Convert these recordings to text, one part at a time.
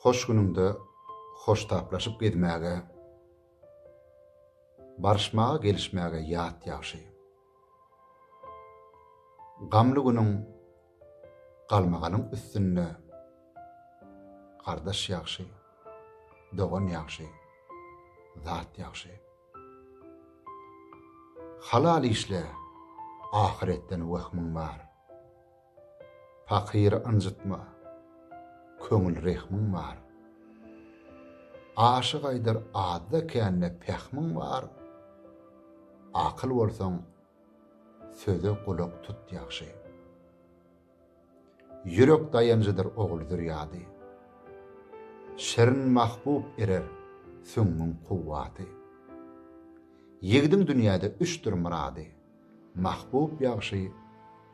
Hoş günüňde hoştaplaşyp gezmäge, Barşmaga gelişmäge ýat ýagşy. Gamly günüň galmagalyň üstünde, Gardaş ýagşy, dogan ýagşy, zat ýagşy. Halal işle, ahyretden wehmiň bar. Pakyry ynjytma, köňül rehmiň bar. Aşyk aýdar azda-kände pähmiň bar. Akyl bolsaň, söze gulak tut ýagşy. Ýürek daýanjydyr ogul zürýady. Şirin mahbub erer süňňüň kuwwaty. Ýigidiň dünýäde üçdir myrady. Mahbub ýagşy,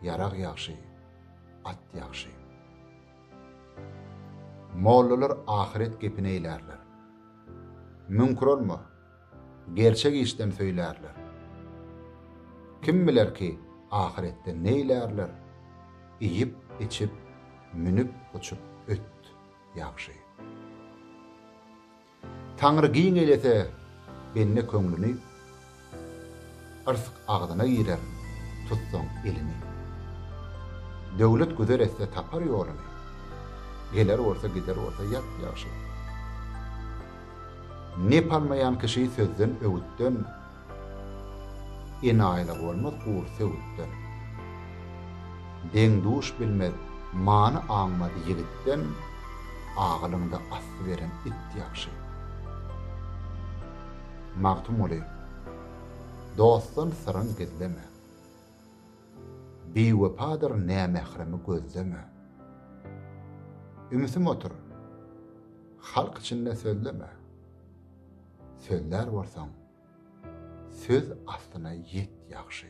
ýarag ýagşy, at ýagşy. Mollalar ahyret gepini eýlärler. Müňkür olma, gerçek işden söýlärler. Kim biler ki, ahyretde neýlärler, iýip, içip, münüp, uçup öt, ýagşy. Taňry giň eýlese bende köňlüni, Yrsg agzyna girer, tutsaň elini. Döwlet güzer etse tapar ýoluny, Geler bolsa gider bolsa ýat ýagşy. Nep almaýan kişi sözden, öwütden, Enaýylygy bolmaz gury söwütden. Deň-duş bilmez many aňmaz ýigitden, Agylyňda asly beren it ýagşy. Magtymguly, dostdan syryň gizleme, Biwepadyr nämähremi gözleme. Ümsüm otur, halk içinde sözleme. sözlär bolsaň söz aslyna ýet ýagşy.